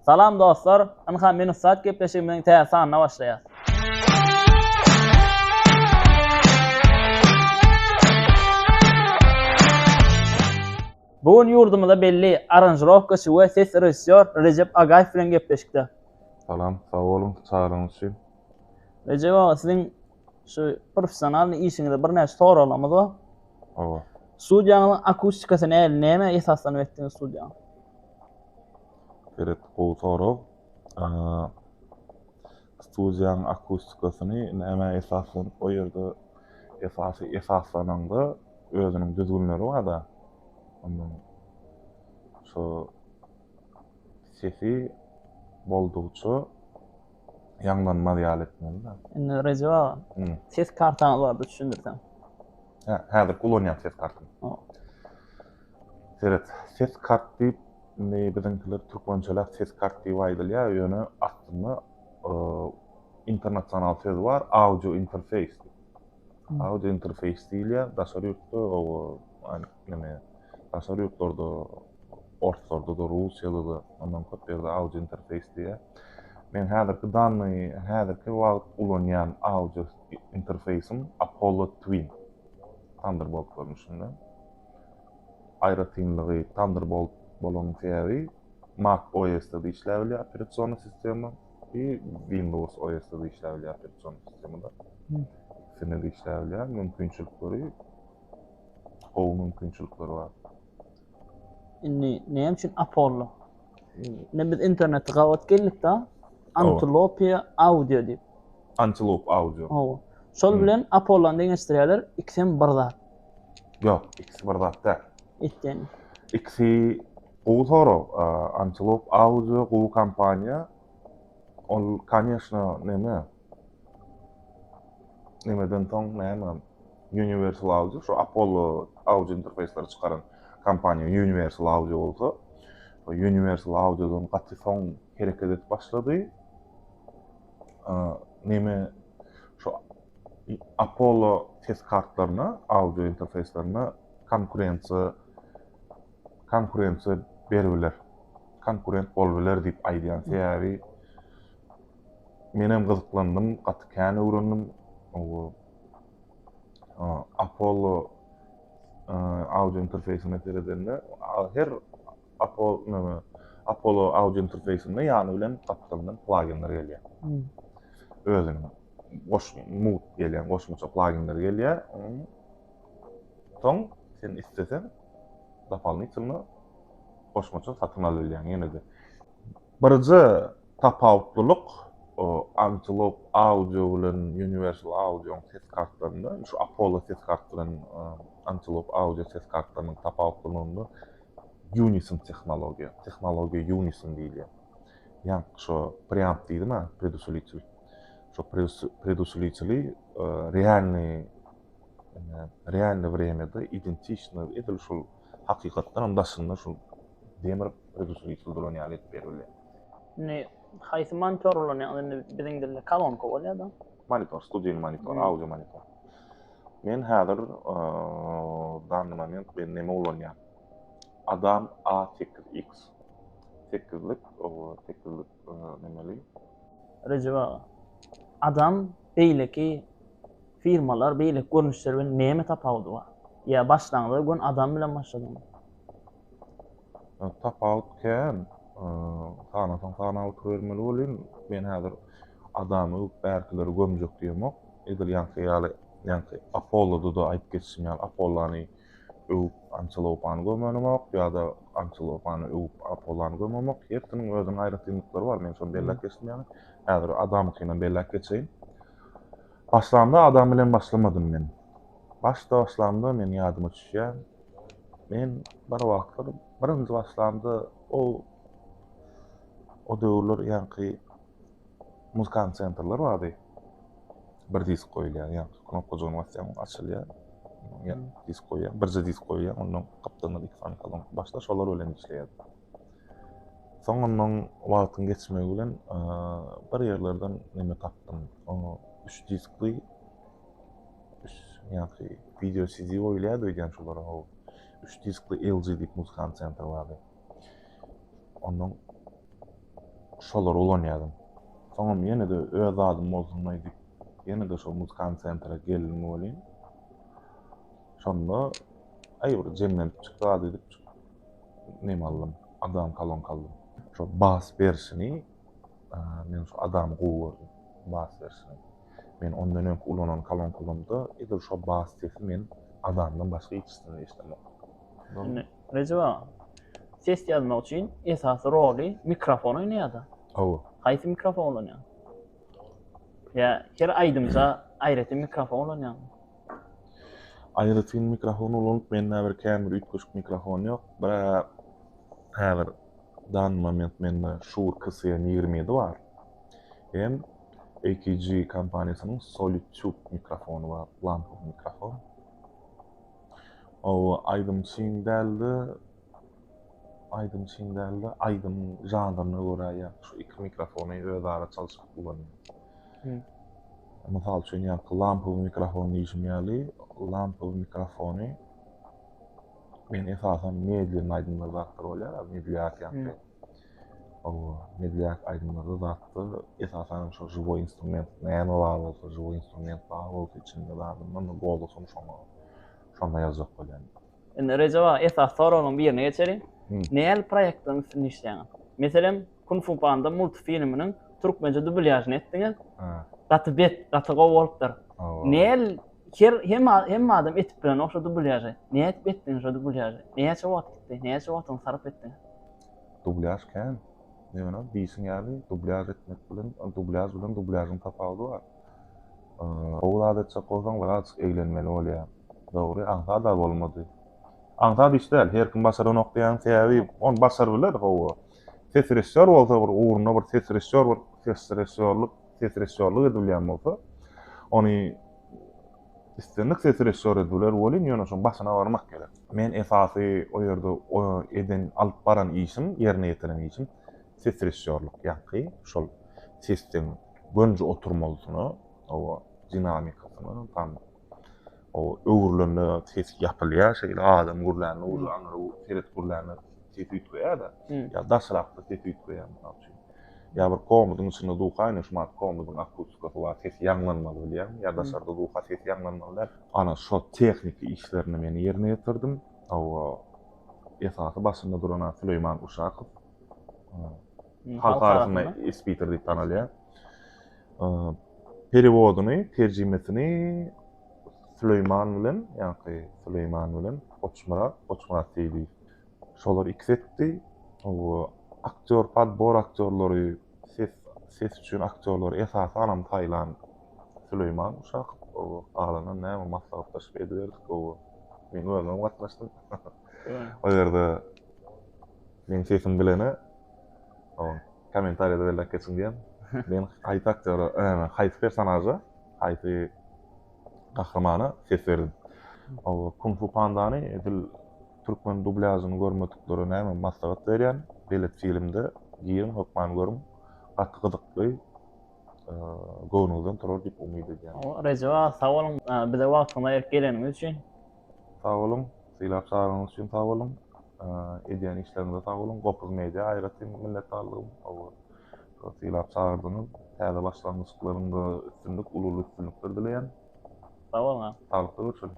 Salam dostlar! Ynha men ussat gepleşigimiziň täze sanyna başlaýas. Bu gün ýurdumyza belli aranžirowkaçy we ses režissýor Rejep Agaýew bilen gepleşikde. Salam, sag boluň, çagyryňyz üçin. Rejep aga, siziň Şu professionalnyý işiňizde birnäçe soraglarymyz bar. Hawa. Studiýaňyzyň akustikasy nähili? Nämä esaslanyp etdiňiz studiýaňy? Belet, gowy sorag. Studiýanyň akustikasyny nämä esaslanyp, o ýerde esasy esaslananda özüniň düzgünleri bar-da. Onuň şu sesi boldugyça ýaňlanmaz ýaly etmeli-de. Indi Rejep aga, Hum. ses kartaňyz bardy düşündirseň. Hä, häzirki ulanýan ses kartam. Hop. Seret, ses kart diýip, indi biziňkiler türkmençeläp ses kart diýip aýdylýar, ýöne aslynda eee, internasional söz bar, audio interfeýs diýip. Hum. Audio interfeýs diýilýär, daşary ýurtda o, aýn. Ýöne daşary ýurtlarda, orslarda-da, russiýada-da ondan köp ýerde Audio Interface diýýär. Meň häzirki dany häzirki wagt ulanýan audio interfeýsim Apollo Twin. Thunderbolt görnüşinde. Aýratynlygy Thunderbolt bolanyň sebäbi Mac OS-da-da işläp bilýär operasion sistema we Windows OS-da-da işläp bilýär operasion sistemada. Ikisinde-de işläp bilýär. Mümkinçilikleri gowy mümkinçilikler bar. Indi näme üçin Apollo? Ne biz internetde gabat geldik-de, Antilope Audio diýip. Antilope Audio. Hawa. Şol bilen Apollo-ny deňeşdirýärler, ikisi hem bir zat. Ýok, ikisi bir zat däl. Etden. Ikisi gowy sorag. Antilope Audio gowy kompaniýa. Ol, kanyýeşna, näme? Nemeden soň näme? Universal Audio, şu Apollo audio interfeýsleri çykaran kompaniýa Universal Audio bolsa, Universal Audio-dan gaty soň hereket edip başlady. Neme şu Apollo ses kartlaryna, audio interfeýslerine konkurensiýa konkurensiýa berip biler. Konkurent bolup biler diýip aýdýan sebäbi Menem gyzyklandym, gaty kän öwrendim. Bu Apollo audio interfeýsine seredende, her Apollo audio interfeýsinde ýany bilen gapdalyndan plaginler gelýär. Özüniň mugt gelýän goşmaça plaginler gelýär. Soň sen isleseň dopalnitylno goşmaça satyn alyp bilýäň. Ýene-de Birje tapawutlylyk Antelope Audio bilen Universal Audio-nyň ses kartlarynda, şu Apollo ses kart bilen Antelope Audio ses kartlarynyň tapawutlylygynda Unison tehnologiýa, tehnologiýa Unison diýilýär. Ýaňky şo preamp diýdim-ä, predusilitel. Şo predusilitel-i realnyý, realnyý wremýada identiçnyý edil şol hakykatdan hem daşynda şol demir öz usuly çyldyrlan ýaly edip berildi. Indi haýsy monitor ulanýaňyz? Indi biziň dilde kolonka bolýar-da. Monitor, studiýaly monitor, audio monitor. Men häzir danny moment men näme ulanýan? Adam A8X. 8-lik, 8-lik nämeli? Rejep aga. Adam beýleki firmalar, beýleki görnüşler bilen näme tapawudy bar? Ýa başlangyza göni adam bilen başladyňyzmy? Tapawut kän. Sanasaň sanap oturybermeli welin, men häzir adamy öwüp bärkileri gömjek diýemok. Edil ýaňky ýaly, ýaňky Apollody-da aýdyp geçişim ýaly, Apollany öwüp Antilopany gömenemok ýa-da Antilopany öwüp Apollany gömemok. Hersiniň özüniň aýratynlyklary bar, men şony belläp geçdim ýaňy. Häzir adamykynam belläp geçeýin. Başlamda adam bilen başlamadym men. Başda başlamda men ýadyma düşýän, men bir wagtlar birinji başlamda o o döwürler ýaňky muzkan sentrler bardy. Bir disk goýulýar, ýaňky knopkajygyny basýaň, açylýar. Ýa disk goýýaň, birje disk goýýaň, ondan gapdalyndan iki sany kolonka. Başda şolar bilen işleýärdim. Soňundan wagtyň geçmegi bilen bir ýerlerden neme tapdym. Oňa üç diskli üç ýanky wideo CD goýulýardy öýdýän şolara haw. Üç diskli LG diýip muzykant sentr bardy. Ondan şolary ulanýardym. Soňam ýene-de öz zadym bolsun aýdyp, ýene-de şol muzykant sentre geldim welin, şonda aý bir jemlenip çykýardy diýip, neme aldym, adam kolonka aldym. Şo bas berişini men şu adamy gowy gördüm. Bas berişini. Men ondan öňki ulanan kolonkalarymda edil şo bas sesi men adamdan başga hiç kimden eşidemok. Indi Rejep aga, ses ýazmak üçin esasy roly mikrofon oýnaýar-da. Hawa. Haýsy mikrofon ulanýaň? Ýa her aýdymda aýratyn mikrofon ulanýaňmy? Aýratyn mikrofon ulanyp mende bir kän bir üýtgeşik mikrofon ýok. Bra häzir dany moment mende Shure KCM ýigrimi ýedi bar. Hem AKG kompaniýasynyň Solid Tube mikrofony bar, lampowy mikrofon. Oba aýdym çyn däldi. Aýdym çyn dälde, aýdym žanryna görä ýa şu iki mikrofony özara çalşyp ulanýar. Mysal üçin ýaňky lampowy mikrofon diýşim ýaly, lampowy mikrofony men esasan medlin aýdymlar zatlar bolýar, medlýak ýaňky. Owo, medlýak aýdymlarda zatda esasan şu žiwoý instrument näme bar bolsa, žiwoý instrument bar bolsa içinde zadyndan gowy bolsa şoňa, şonda ýazjak bolýan. Indi Rejep aga esasy soraglaryň birine geçeliň. Nähili proýektleriň üstünde işleýäňiz? Meselem, Kung Fu Panda multfilminiň türkmençe dubulýažyny etdiňiz. Gaty bet, gaty gowy bolupdyr. Näl her hemme hemme adam etip bilenok şo dubulýažy. Nädip etdiňiz şo dubulýažy? Näçe wagt gitdi? Näçe wagtyňyzy sarp etdiňiz? Dubulýaž kän. Ýöne diýşiň ýaly dubulýaž etmek bilen dubulýaž bilen dubulýažyň tapawudy bar. Ogul adatjak bolsaň bir azjyk eglenmeli bolýa. Dogry aňsada bolmady. Aňsat iş däl, her kim başaranok diýýän sebäbi ony başar biler hawa. Ses režissýor bolsa bir ugruna bir ses režissýor bir ses režissýorlyk ses režissýorlyk edip bilýän bolsa ony islendik ses režissýor edip biler welin ýöne şoň başyna barmak gerek. Men esasy o ýerde eden alyp baran işim ýerine ýetiren işim ses režissýorlyk ýaňky şol sesden Gönüji oturmalysyna, hawa, dinamikasyna, tam o öwrülende ses ýapylýar, şeýle adam gürlände bolsa, aňry seret gürlände ses üýtgeýär-de, ýa daşrakda ses üýtgeýär, mysal üçin. Ýa bir komudyň içinde duka ine, şu wagt komudyň akustikasy bar, ses ýaňlanmaly bilýäňmi, ýa daşarda duka ses ýaňlanmaly däl. Ana, şol tehniki işlerini men ýerine ýetirdim. Hawa, esasy başynda duran-a Süleýman Uşakow. halk arasynda Espiter diýip tanalýar. Perewodyny, terjimesini Süleýman bilen, ýa-da Süleýman bilen Goçmyrat, Goçmyrat Seýdi. Şolar ikisi etdi. Bu aktýor, podbor aktýorlary, ses, ses üçin aktýorlary esasanam saýlan Süleýman uşak. Galanynam näme maslahatlaşyp ediberdik. Men özüm gatnaşdym. O ýerde meň sesim bilene kommentariýada belläp geçiň diýen. Men haýsy aktýora, haýsy personaža, haýsy gahrymana ses berdim. O Kung Fu Pandany edil türkmen dublažyny görmediklere näme maslahat berýän, belet filmde giriň hökman görüň. Gaty gyzykly. Göwnüňizden turar diýip umyt edýän. Rejep aga sag boluň bize wagtyňyzy aýryp geleniňiz üçin. Sag boluň. Sylap çagyryňyz üçin sag boluň. Edýän işleriňize sag boluň. Gopuz media aýratyn minnetdarlygym. Şo sylap çagyrdyňyz. Täze başlangyçlaryňda üstünlik, uly-uly üstünlikler dileýän. Sag boluň aga. Saglykda görşeliň.